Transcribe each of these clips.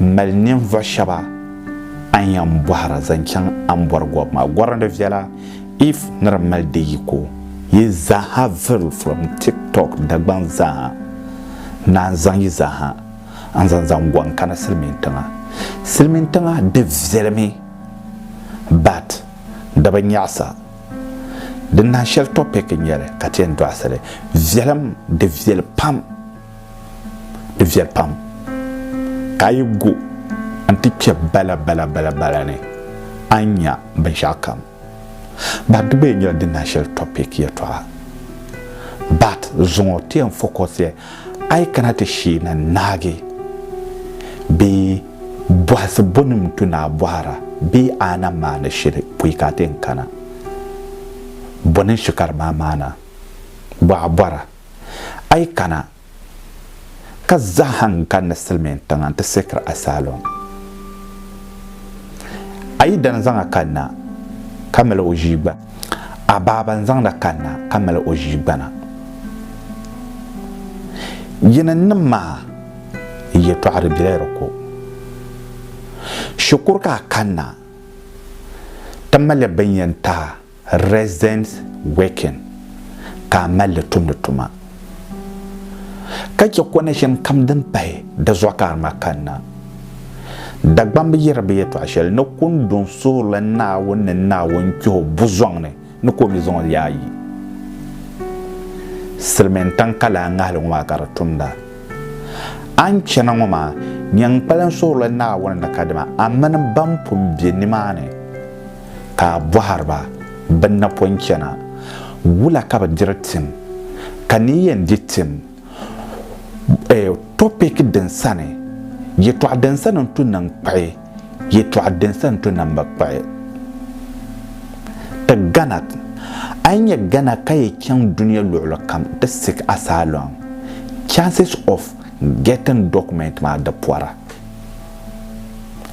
M mali ninvuɣ shɛba a ni yɛn bɔhir a zaŋ chaŋ a ni bɔri gɔbu maa. Gɔri ni viɛla if ni di mali di yiko. Yi zaaha viri from TikTok Dagbaŋ zaaha naan zaŋ yi zaaha n-zaŋ zaŋ gɔŋ n-kana Silimiintiŋa. Silimiintiŋa di viɛlimi but di bi nyaɣisa. Di nahi shɛli topic n-nyɛ li ka ti yɛn dɔɣisi li. Viɛlim di viɛli pam. di viɛli pam ka a yi gu n-ti kpe bala bala bala bala ni a ni nya binshɛɣu kam. But di gba yɛn nyɛla din naashɛli topic yɛtɔɣa. But zuŋɔ ti yɛn focus ya a yi kana ti shee na naagi bee bɔhisi bonim n-tu ni a bɔhira bee a na maani shili pɔi ka a ti yɛn kana. Bɔ ni n-shi ka di maa maana? Bɔ a bɔra. A yi kana, ka zaha n kani ni silimiin tiŋa nti sikiri a saalɔŋ. A yi dani zaŋ a kanna, ka mali o ʒii gbana. A baaba n zaŋdi a kanna, ka mali o ʒii gbana. Yinannim maa yɛtɔɣa di bela di ko. Shikuru ka a kanna, ti mali bini yɛn taai. residence working, ka a mali li tumdi tuma, ka chɛ connection kam din pahi di zuɣu ka a ŋma kanna. Dagbaŋ bi yɛri bɛ yɛtɔɣ shɛli ni kundun suurili Naawuni ni Naawuni kpih o buzɔŋ ni ni ka o mi zaŋ o leei a yi. Silimiintiŋ ka lala ŋahili ŋɔ maa ka di tumda. A ni chana ŋɔ maa, nyin kpalim suurili Naawuni ni kadama a mini bɛn pun be nimaani ka a bɔhiri ba, Bɛ napɔi chana, wula ka bɛ diri tim? Ka ni yi yɛn di tim, eh, topic din sani, yɛtɔɣ din sani n-tu ni n-kpuɣi, yɛtɔɣ din sani n-tu ni m-bi kpuɣi. Ti Ghana, A yi nya Ghana ka yi chaŋ dunia luɣili kam, ti seek asylum, chances of getting document maa di pɔra.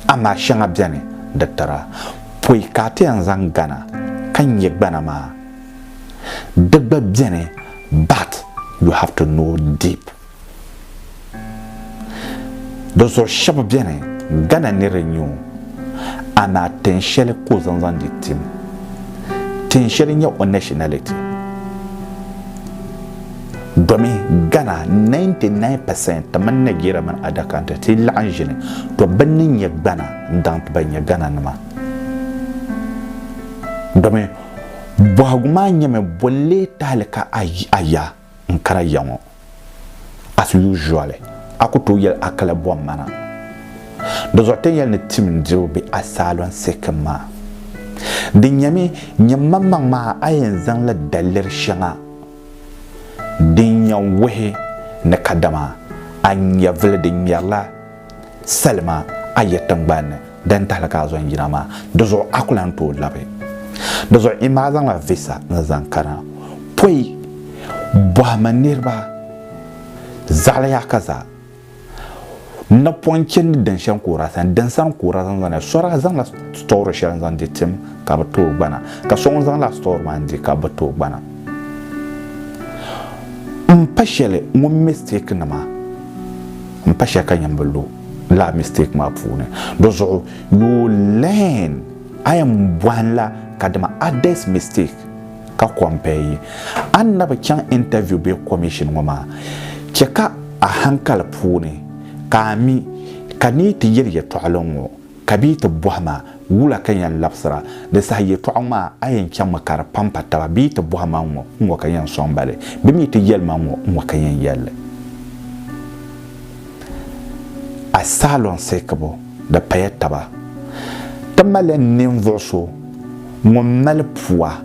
Amaa shɛŋa beni di tira poi ka a ti yɛn zaŋ gana ka nya gbana maa. Di gba beni but you have to know deep. Di zuɣu shɛba beni gana ni di nyu amaa tin shɛli ka o zaŋ zaŋ di tim. Tin shɛli n-nyɛ o nationality. Domi Ghana 99 percent ti mini Nigeria mini adaka nti ti laɣim ʒini, to bɛ ni nyɛ gbana n-daŋ ti ba nyɛ Ghana nima. Domi bɔhigu maa nyɛmi bɔ leei tahili ka a yi a ya n-kana ya ŋɔ as usual a ku tooi yɛli a kala bɔhim ma na. Di zuɣu tin yɛli ni tim n-diriba be a saalɔn sikim maa. Di nyɛmi nyɛmmaŋmaŋ maa a yɛn zaŋla daliri shɛŋa Din yɛn wuhi ni kadama a nyɛvili din ŋmɛrila salima a ya tiŋgbani ni din tahili ka a zo n-yina maa, di zuɣu a ku lan tooi labi. Di zuɣu Emma a zaŋla visa ni zaŋ kana. Pɔi bɔhima niriba zaɣili yaha ka zaa. N na pɔŋ chɛndi din shɛŋ ka o daa sani, din sani ka o daa zaŋ zani. So daa zaŋla sitɔri shɛli n-zaŋ di tim ka bɛ tooi gbana, ka so ŋun zaŋ lala sitɔri maa n-di ka bɛ tooi gbana. M pa shɛli ŋun mistake ni maa, m pa shɛli ka nyini bi lu lala mistake maa puuni. Di zuɣu you learn, a yɛn bɔhim la kadama others mistake. ka compare yi. A ni na bi chaŋ interview bee commission ŋɔ maa, chɛ ka a hankali puuni ka a mi ka ni yi ti yɛli yɛtɔɣili ŋ-ŋɔ ka bee ti bɔhi ma wula ka yɛn labisira. Di saha yɛtɔɣa ŋ-ŋɔ a, a yɛn chaŋmi ka di pampa taba bee ti bɔhi ma ŋ-ŋɔ ŋ-ŋɔ ka yɛn sɔŋ ba li bee mi ti yɛli ma ŋ-ŋɔ ŋ-ŋɔ ka yɛn yɛli li. A saalɔŋ seekibu. di paya taba. Ti mali ninvuɣ so ŋun mali pua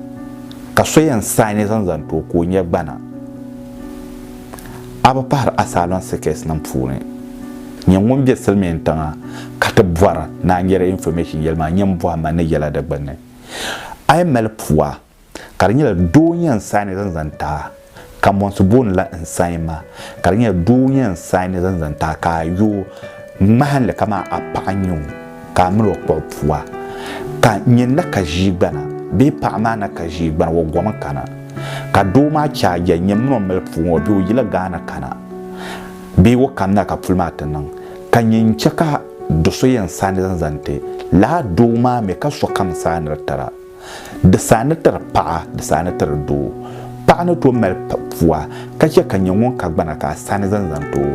ka so yɛn saai ni zaŋ zani ti o ka o nya gbana. A bi pahiri asylum seekers nim puuni. Nyɛ ŋun be silimiintiŋa ka ti bɔri ni a nyari information yɛli maa, nyini bɔhimma ni yɛla di gbunni. A yi mali pua ka di nyɛla doo n-yɛn n-saini zaŋ zaŋ ti a, ka mɔnsi booni la n-sain ma, ka di nyɛla doo n-yɛn n-saini zaŋ zaŋ ti a ka a yo ŋmahin li kaman a paɣa n-nyɛ o ka a mini o kpuɣi pua, ka nyɛ n na ka ʒiigbana bee paɣa maa na ka ʒiigbana o gomi kana, ka doo maa che a yɛli, nyɛ m mini o mali puu ŋɔ bee o yila Ghana kana bee o kamina ka puli maa ti niŋ, ka nyɛ n-che ka do so yɛn saini zaŋ zaŋ ti lala doo maa mi ka sokam saaniri tira. Di saha ni tiri paɣa, di saha ni tiri doo. Paɣa ni tooi mali pua ka chɛ ka nyɛ ŋun ka gbana ka a sani zaŋ zaŋ ti o.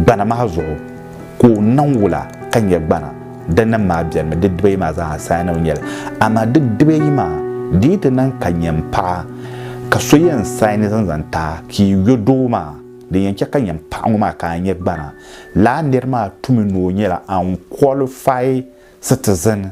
Gbana maa zuɣu ka o niŋ wula ka nyɛ gbana? Dindini maa bɛlimi di dibayi maa zaa sani ni o nyɛ li. Amaa di dibayi maa, di yi ti niŋ ka nyɛ m-paɣa ka so yɛn saini zaŋ zaŋ ti a ka yi yo doo maa, din yɛn chɛ ka nyɛ m-paɣa ŋɔ maa ka a nyɛ gbana. Lala nir maa tumi ni o nyɛla unqualified citizen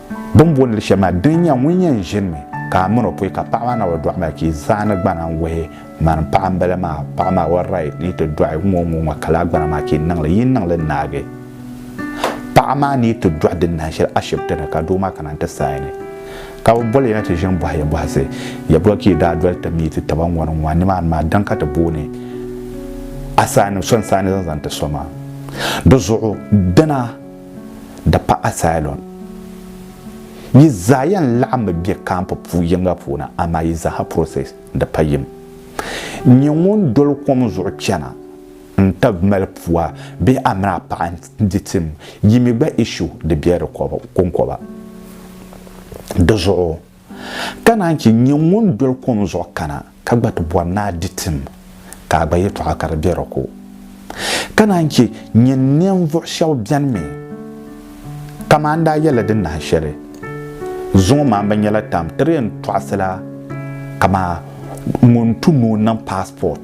Bɛ ni booni li shɛli maa, din nya ŋun yɛn ʒinimi ka a min o pɔi ka paɣa maa naai o dɔɣi maa chɛ zaani gbana n-wuhi mani paɣa m-bala maa, paɣa maa o right ni yi ti dɔɣi ŋ-ŋɔ ŋ-ŋɔ ka lala gbana maa chɛ niŋ li, yi niŋ li naagi paɣa maa ni yi ti dɔɣi di nahin shɛli ashibiti ni ka doo maa kana n-ti saini ka bɛ boli ya ni ti ʒini bɔhi ya bɔhisi ya boli ka yi daa doli ti meeti taba ŋ-ŋɔ ni ŋ-ŋɔ a nimaani maa din ka ti booni a saani so n-saani zaŋ zaŋ ti so maa. Di zuɣu dina. Di pa asylum. Yi zaa yɛn laɣimmi be camp pu yiŋga puuni amaa yi zaaha process di pa yim. N nyɛ ŋun doli kom zuɣu chana n tab mali pua bee a mini a paɣa n di tim yi mi gba issue di be di konkoba. Di zuɣu. Ka naan chɛ nyɛ ŋun doli kom zuɣu kana ka gba ti bɔri ni a di tim, ka a gba yɛtɔɣa ka di be di ko. Ka naan chɛ nyɛ ninvuɣ shɛb beni mi, kaman n daa yɛli di nahi shɛli, Zuŋɔ maa bɛ nyɛla tam tiri yɛn tɔɣisila kaman ŋun tu ni o niŋ paasipɔt.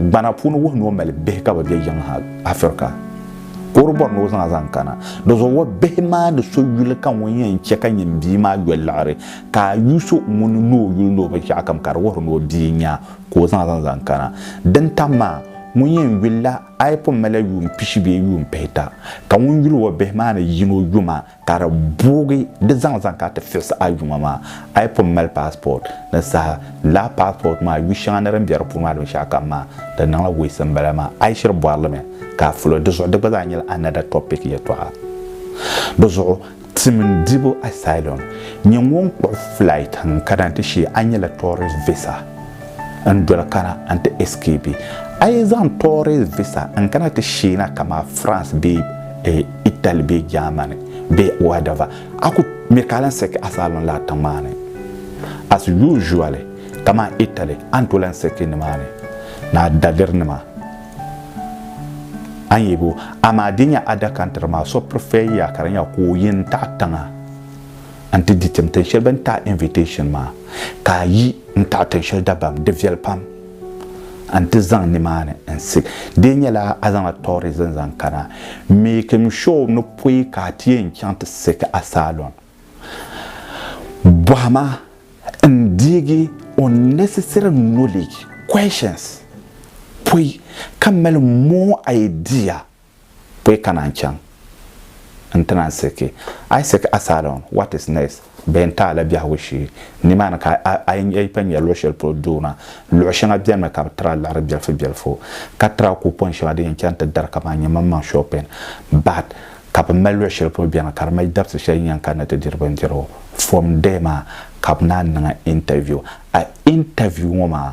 Gbana puuni wuhi ni o mali bihi ka bi be yiŋ ha, Afirika. Ka o di bɔri ni o zaŋ a zaŋ kana. Dizuɣu o bihi maa ni so yuli ka ŋun yɛn chɛ ka nyin bia maa yoli liɣiri, ka a yu so ŋuni ni o yuli ni o binshɛɣukam ka di wuhiri ni o bia n-nyɛ a, ka o zaŋ a zaŋ zaŋ kana. Din tam maa, ŋun yɛn yulila a yi pun mali a yuun pishi bee yuun pihita, ka ŋun yuli o bihi maa ni yini o yuma, ka di boogi di zaŋ zaŋ ka ti fiɣisi a yuŋa maa a yi pun mali passport ni saha lala passport maa yu shɛŋa ni din bɛ di puuni maa binshɛɣu kam maa di niŋla waste m-bala maa a yi shiri bɔri li mi ka a fuli di zuɣu di gba zaa nyɛla another topic yɛltɔɣa di zuɣu tim dibu asylum nyɛ ŋun kpuɣi flight n-kana ti shee a nyɛla tourist visa n doli kana n ti escape. A yi zaŋ tourist visa n kana ti sheena kaman France bee Italy bee Germany bee whatever, a ku mi ka a lan sɛki asylum laa tiŋmaani. As usually, kaman Italy, a ni tooi lan sɛki nimaani ni a dalirinima. A ni yebo, amaa di nya other country maa, so prefer-ya ka di nya ka o yi n-taɣi tiŋa a ni ti di tim tin shɛli bɛ ni taɣi invitation maa ka a yi n taɣi tin shɛli dabam di viɛli pam a ni ti zaŋ nimaani n si di yɛn nyɛla a zaŋla tourism zaŋ kana making sure ni pɔi ka a ti yɛn chaŋ ti sɛki asylum bɔhima n deegi unnecessary knowledge questions pɔi ka mali more idea Ka yi kana n-chaŋ nti na n-siki Isaac asylum, what is next? Bɛ yɛn taai la biɛhigu shee nimaani ka a yi pun nya luɣ shɛli polo doo maa, luɣ shɛŋa benimi ka bɛ tira liɣiri bilifubilifu, ka tira coupon shɛŋa din yɛn chani ti dari kaman nyɛmaŋmaŋ shopping, but ka bɛ mali luɣ shɛli polo beni ka di mali dabisi shɛli yi yɛn kani ni ti diri bindirigu. From there maa ka bɛ naan niŋ a interview. A interview ŋɔ maa.